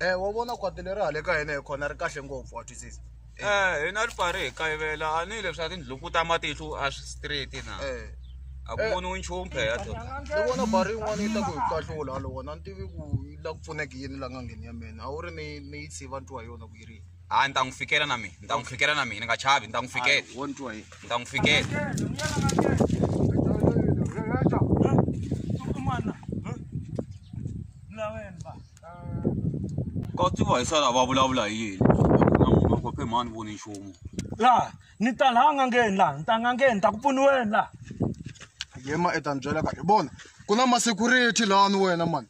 Eh, wa vona khwati leri hale ka hina hi khona ri kahle ngopfu wa twisisa Eh, hina ri pfari hi kayivela a ni leswi a tindlhuku ta matihlu a swi straight na Eh, a ku voniwi nchumu phela to ni vona bari yin'wana yi ta ku hi kahlula halowona ni tivi ku yi la ku pfuneka yini la ngangeni ya mina a wu ri ni ni yi tshiva ntiwa hi yona ku yi ri yini hayi ni ta n'wi fikela na mina ni ta n'wi fikela na mina ni nga chavi ni ta n'wi fikela wo ni twa hi ni ta n'wi fikela ka tiva hi sala va vulavula hi yini na munhu wa kophe mhani voni nchumu la ni ta laha n'angeni laha ni ta n'angeni ni ta ku pfuniweni laha yema i ta ni byela ka hi vona ku na masecurity lawani wena mani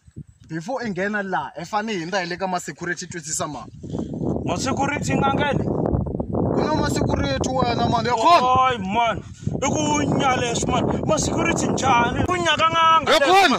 before i nghena laha i fanele hi ndza hi le ka masecurity twisisa mani masecurity n'angeni ku na masecurity wena mani ya khona oy mani i ku nyaleswi mani masecurity njhani ku nyaka n'anga ya khona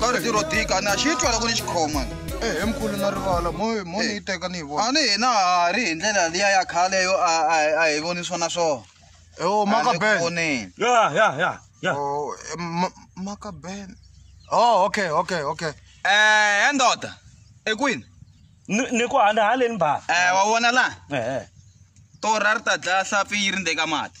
ka ri tirho dika na xi twa loko ni xi khoma ehe eh, mkulu na rivala mo mo ni yi eh. teka ni yi vona a ni hina ha ri hi ndlela liya ya khale yo a a hi voni swona swona ewo oh, maka ben ya ya ya ya oh, eh, maka ben oh okay okay okay eh ndoda ekwini ni ku handa haleni ba eh wa vona la eh to rarta dlaya hlapi yi ri ndeka mati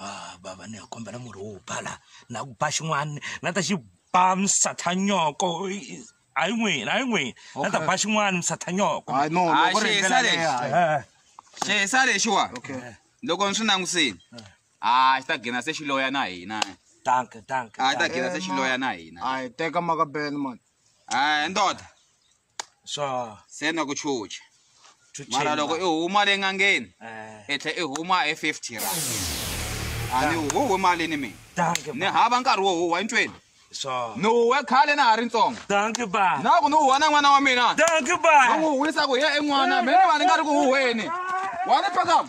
Ah, bava ni kombela murhi wo ba la na ku ba xin'wana na ta xi ba misathanyoko hayi n'wina hayi n'wina na ta ba xin'wana misathanyoko xihisa lexiwa loko ni swi langutisini a xi ta gina se xi loya na hina danke danke a xi ta gina se xi loya na hina a hi teka maka ben mani a ndoda swa se na ku chucha to mara loko i change. huma le ngangeni Eh, i tlhe i huma hi 50 ra a ni wu huwe mali ni mina danke ni ba. hava nkarhi wo huwa entweni Swa. ni huwe khale na ha ri ntsongo Danke ba. na ku ni huwa na n'wana wa mina Danke ba. ni n'wi huwisa ku ye en'wana mina ni va ni nga ri ku huweni wa ni phakama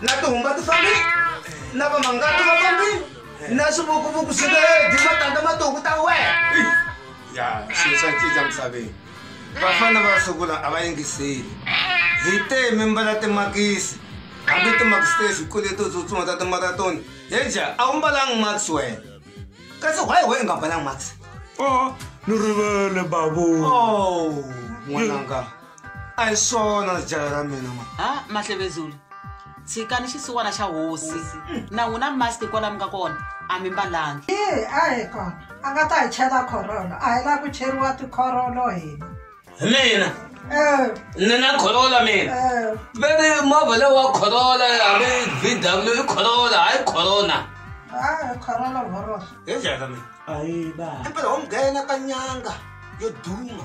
na tihumba ti fambile na vamangati va fambile na swivukuvuku swi ledi matandza matoku ta wena ya swilo swa cinca misaveni vafana va sungula a va yingiseli hi te mimbala timakisi hambi timakisi te swikule to tsutsuma ta timaratoni heja a wu mbalangi max wena kasi why we i nga mbalangi max o ni rivele babu oh, n'wananga oh. a hi swona jala ra mina ma ha mahlevezulu tshikani xisiwana xa hosi na n'wina masti kwala mi nga kona a mi mbalangi i a hi kona a nga ta hi chela khorolo a hi la ku cheriwa tikhorolo hina mina eh. ni na khorola mina eh. veni movha leyi wa khorola hambi v w i khorola hayi khorona khorolo vhoroso hi jaka mina ayi ba impela ho nghena ka nyanga yo duma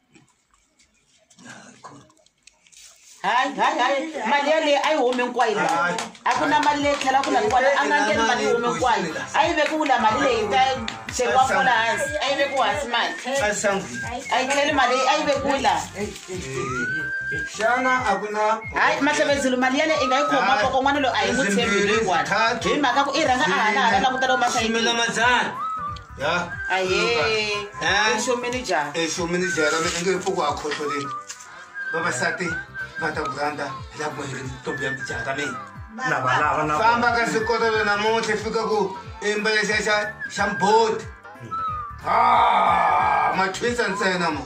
hayi hayi hayi mali yaleyi a yi humi hinkwayo la a ku na mali leyi tlhela ku laviwa a nga ngeni mali yi humi hinkwayo a yi vekiwu la mali leyi ta chekiwa fola hansi a yi vekiwu hansi mali a yi tlheli mali a yi vekiwu la xana a ku na hayi mahlevedzulu mali yale i nga yi khoma koko n'wana loyi a yi n'wi tshembi leyiwani hi mhaka ku i rhanga a hana hana langutela u masaimila madzana ya exomini jara mi enge ri pfuku a khohloleni vavasati va ta ku rhandza hi la ku hiri ntombi ya jara mi famba ka sikotolo namuntlha fika ku imba lexa xa xa mboti ha machwisa ntsena mo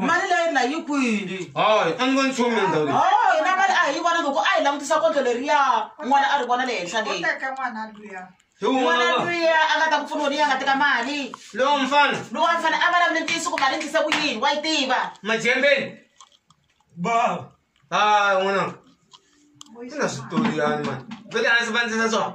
mali leyi na yi kwini hayi a ni voni nchumu le ndhawu leyi o hina mali a hi vona loko a hi langutisa kondlo leriya n'wana a ri vona le henhla leyi Uteka mwana luya. hi n'wana wun'wana wa luya a nga ta ku pfuniwa leyi a nga teka mali lowo mfana lowa a fanele a vulavule ntiyiso ku mali endlise ku yini wa yi tiva majembeni baba hayi n'wananga Vuyisa i na mwana. switori yani mani vele a ndzi vandzisa swona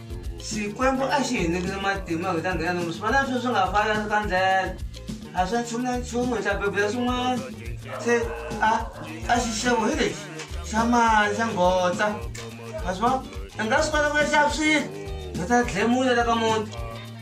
xikwembu a xi hi nyikile matimba hi ta nghena nomu swivana swi swi nga fana ka ndlela a swa nchumu na nchumu hi ta bebula swin'wana se a a xixevo hi lexi xa mali xa ngotsa a swi va i nga swi kota ku ya xava swilo hi ta dlemula la ka muti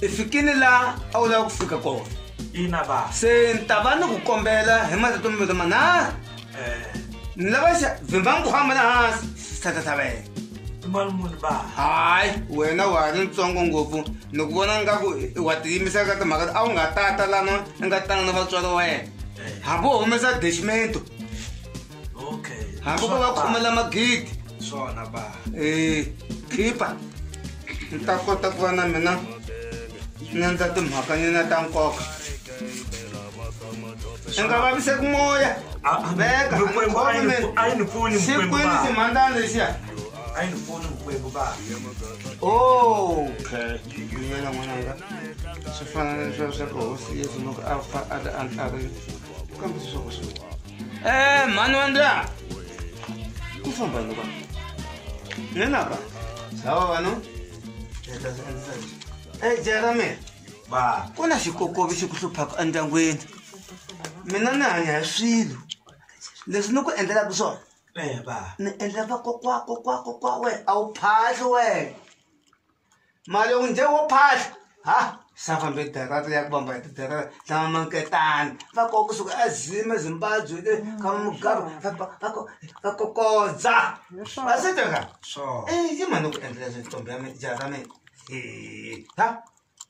i fikile laha a wu lava ku fika kona ina ba se ni ta va ni ku kombela hi marito mavito manharhu eh. ni lava xa vhimba nkhwama la hansi sithathathavela mali muni ba hayi wena wa ha ri ntsongo ngopfu ni ku vona ngaku wa tiyimisela ka timhaka a wu nga tata lana i nga tanga na vatswari wa yena eh. hambi u humesa deximento okay hambi ko va khomela magidi swona ba eh khipa ni ta kota ku va na mina ni endla timhaka nyina ta nkoka i nga vaviseki moya veka a yi ni pfuni xikwini ximhandzana lexiya a yi ni pfuni vukwembu ba okay yena n'wananga swi fana na leswiya swa ku hosi yesu loko a fa a ta a ntlharini Eh, mhani wa ndla ku famba yini vanhu nenaka lava vanhu e jera mina ba ku na xikokovi xi ku hluphaka endyangwini mina ni hanya hi swilo leswi ni ku endlelaka swona eh ba ni endlela vakokwa kokwa kokwa we a wu phahli wena mali u njhe wo phahla ha sa fambe darata ya ku vamba hi tidarata tlama manketani va koka kusuka azima zimbabwe le ka mugabe va kokodza va se teka so i mani ku endlela ntombi ya mina jaha ra mina ha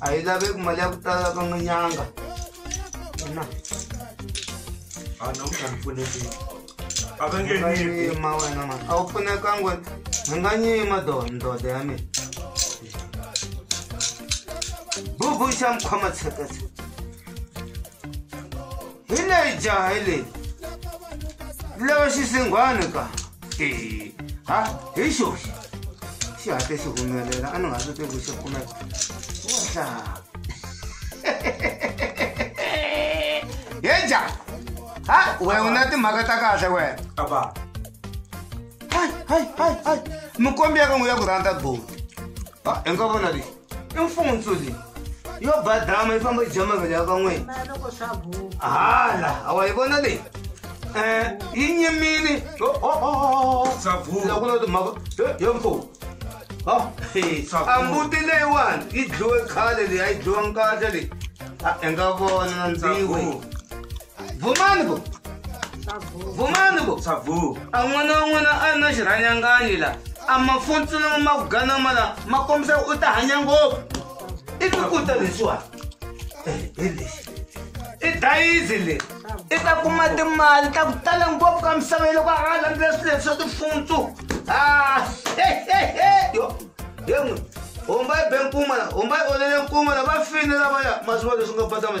a yi laveki mali ya ku tala ka n'winyanga na a namuntlha ni pfunekile a va nge nga nyiki yima wena ma a wu pfunekanga wena ni nga nyima do ndoda ya mina bubu xa mi khoma tsheketse hi leyi jaha hi leyi lava xisinghwana ka Eh, ha hi xoxi xi hatle xi humelela a ni nga swi tivi ku xi kumeka wahla ye jaha ha we u na timhaka ta kahle wena aba hayi hayi hayi hayi mikombi ya ka n'wi ya ku rhandza boti i nga vona lexi i mfundzo leyi yo badrama yi famba jama vele ya van'wini hala awa yi vona leyi um yi nyimile ku na timhaka yo mfumo ambuti leyiwani yi dliwe khale leyi a yi dliwa nkahle leyi a hi nga vona ndziwe vumani vo vumani vo savu a n'wana wa n'wana a ri na xirhanyanganyi la a mafuntsula ma ku ganama la ma kombisa u ta hanya ngopfu i tikuta leswiwani hi lexi i dayizi leri i ta kuma timali ta ku tala ngopfu ka misava yi loko a nga landzela swilo leswi swa tifuntsu a yo he n'wi homba yi be nkuma la homba yi olele nkuma la va fini lavaya ma swi va leswi nga phatama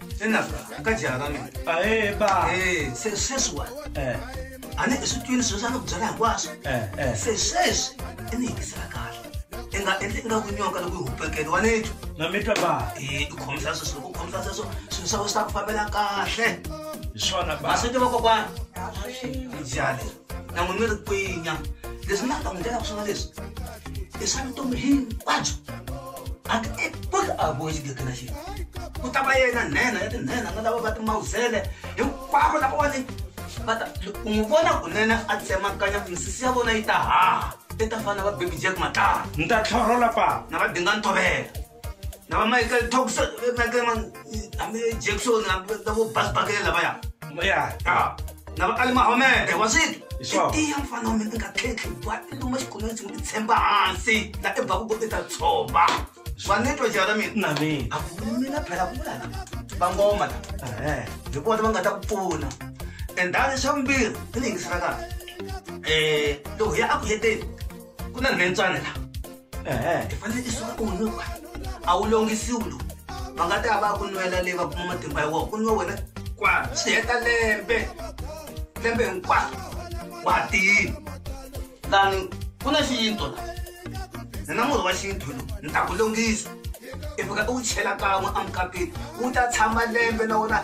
enaka mukadzi akamwe ae ba Eh, se- sesi wani eh a ni eswitwini sweswi a ni ku byela hinkwaswo eh eh se sweswi i ni yingisela kahle i nga endli i nga ku nyoka loko yi hupekele wa ni twa na mi twa ba Eh, i khomisa sweswi loko u khomisa sweswo swilo swa wena swi ta ku fambela kahle hi swona ba maswiti vakokwana i jale na n'wi mi ri kwinya leswi nga ta n'wi ndlela ku swona leswi i swa vutomi hinkwabyo a ti epuki a boyi xigeke na xilo ku ta va yena nhenha ya tinhenha na lava va timawuzele hinkwavo lavawani va ta u n'wi vona kunene a tsemakanya misisi ya vona yi ta haha i ta fana va bebi jack matala ni ta tlhorola papa na va dinga ntovela na va michael tox michael man hambi jackson hambi na vo bas bakele lavaya ya ah. na va alimahomede wa switi tiya mfana wa mina i nga tlhetlhi wa i luma xikhonweni ndzi n'wi tshemba hansi la i baku ko i ta tshova swa netwa jara mina na mina a ku mina phela ku vulana vangoma la hi vona va nga ta ku pfuna and dani xa vumbirhi i ni yingisela kahle um loko ya aku heteni ku na nhentswana la hi fanele isuka ku nuka a wu longisiwi lowu va nga ta ya va ya ku nwela leyi va kuma matimba ya wona ku nwa wena kwa swi heta lembe lembe hinkwaro wa tiyini lani ku na xiyinto la ni na murhi wa xintu lowu ni ta ku longisa i fika i wu chela kan'we amukapeni wu ta tshama lembe na wona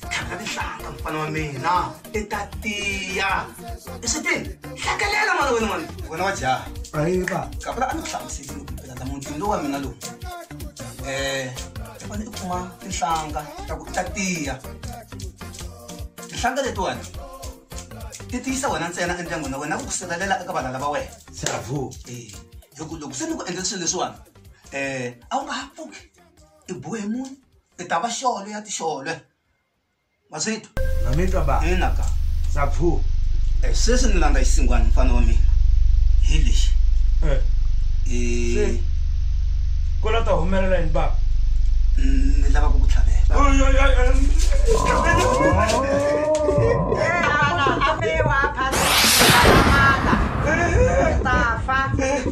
tlhanga tinhlanga mfana wa mina i ta tiya eswitini hlakelela n'wana wena n'wana wena wa jaha ayiva kapela a ni ku hlamusekile ku phela namutini lowu wa mina lowu um eh, i fane i kuma tinhlanga ta ku ta tiya tinhlanga letiwani ti tiyisa wena ntsena endyangwini wa wena ku ku sirhelela eka valala va wena savo e eh, hi ku loko se ni ku endla swilo leswiwani um eh, a wu nga ha pfuki i bohe munhu i ta va xole ya tixole ma swi twa na mi twa ba ina ka sa phu eh, sweswi ni landza xisingwani mfana wa mina hi lexi eh. eh. ku la ta humelela yini ba ni lava ku ku tlhavela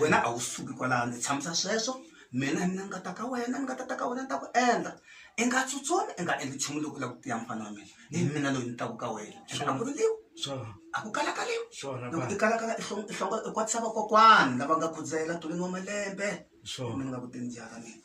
wena a wu suki kwalano i tshamisa sweswo mina ni nga ta ka wena ni nga ta ta ka wena ni ta ku endla i nga tsutsumi i nga endli nchumu loko u lava ku tiya mufana wa mina hi mina loyi ni taku ka wena and a ku riliwi a ku kalakaliwi loko i kalakala i hlonga i kwatisa vakokwana lava nga khudzela tolweni wa malembe mina ni nga ku teni jaha ra mina.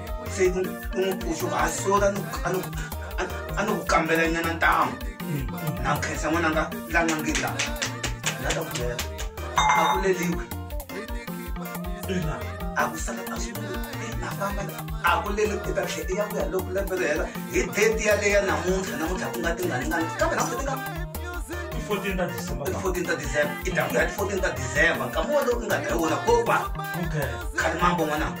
se ni n'wi pfuxa ku hasola a ni ku kambela nyana ntamu na khensa n'wananga la nga ngi la la ta ku byela a ku leliwi a ku sala a swi na famba a ku leli i ta tlhe i ya ku ya loko lembe ri hela hi date yaleya namuntlha namuntlha ku nga tingaringani kambe namuntlha ti nga 14 ta December. 14 ta December. Itakuya 14 ta December. Kamodo unga taona kopa. Okay. Kalimambo mwanangu.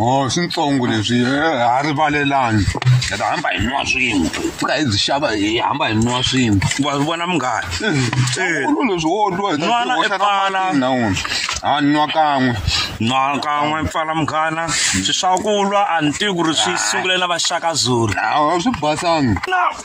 o swintsongo leswi ha rivalelani hi ta hamba hi nwa swin'we pfuka hi byi xava hi hamba hi nwa swin'we wa swi vona munghana ulu leswi wo lwa hi Nwana i pfala. na wona ha nwa kan'we nwa kan'we pfala munghana swi swa ku lwa a ni tivi ku ri swi sungule na vaxaka zulu a swi basanga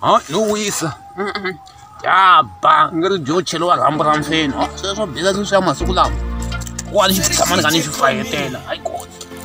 ha no wisa ya ba nge ri byo cheliwa rhambu ra mfeni sweswo biza sweswi ya masiku lawa wa ni xi tshamani ka ni xi fayetela hayi kona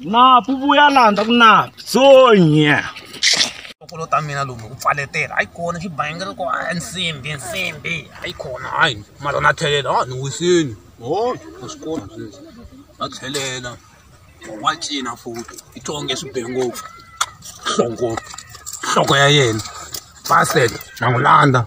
napu vuya laha ndza ku napu sonye kokolo ta mina lomu ku pfaletela hayi kona xibangela ko a nsimbi nsimbi hayi kona hayi mara na tlhelela a ni wisini o na swi kona sweswi na tlhelela wa cina futi i twa onge swi be ngopfu nhloko nhloko ya yena basket na n'wi landza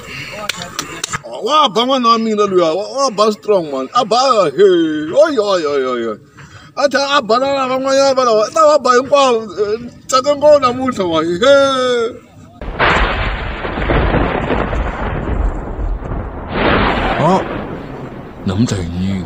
wa ba n'wana wa mina luya wa ba strong man a ba he oyoyoyoyo a tlhela a bana na van'wanyana valawa ta va ba hinkwavo tsake ngopfu namuntlha wa he namuntlha hi yini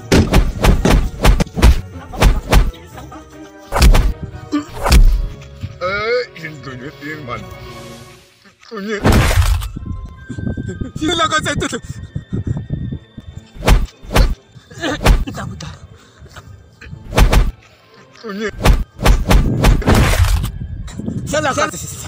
Salakatisi.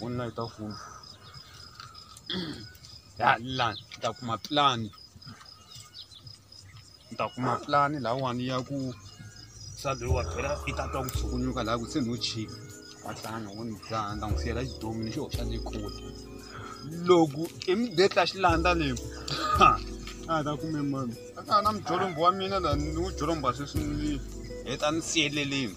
u na ta fuma ya la ni ta kuma plan ni ta kuma plan lahawani ya ku swa loyi wa phela i ta twa ku tshukunyuka laha ku se no chika wa tlanga wo ni dzaha ni ta n'wi siyela xidomi ni xi hoxa ni kule loko i mi betla xilanda leyi ha a ta kume mani a ka ha na mujolombo wa mina la ni wu jolomba sweswi ni heta ni siyeleleni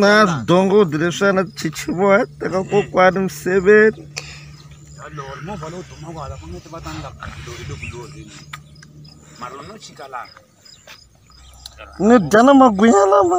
na swidongodi leswiya na tichichivoya teka kokwani miseveni ni dya na magwinya lama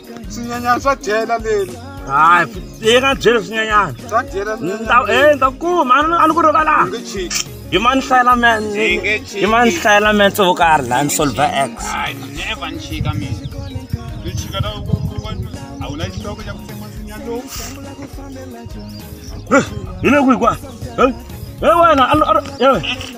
swinyanyana swa dyela leli hayi leyi nga byela swinyanyana swa dyela swinyanyana ndza kuma a ni ku rivala hi ma ni hlayela man hi ma ni hlayela man tso vo karhi laha ni solver x hi le kwihi kwa he wena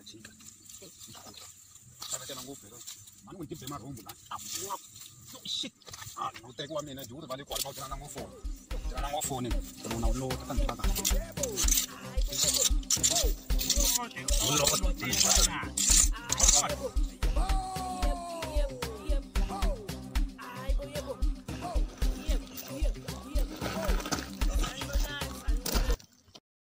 Achika. Saka kana ngopfu lero. Mani n'wi tibye marhumbu la. No shit. Ah, no teki wa mina juri vale kwala kwala na ngofoni. Kana ngofoni. Mona ulo ta ndika ka. Ulo ka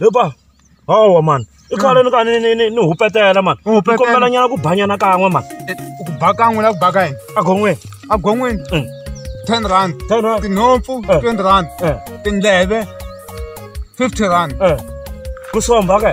hepa hawa mani i khale ni ka ni ni ni ni hupetela mani U hupetela? kombela nyana ku banyana kan'we mani Eh, ku ba kan'we la ku ba ka yini agon'weni agon'wini Mm. ten rand ten rand tinhompfu Eh. twenty rand Eh. tindleve fifty rand Eh, ku somba ke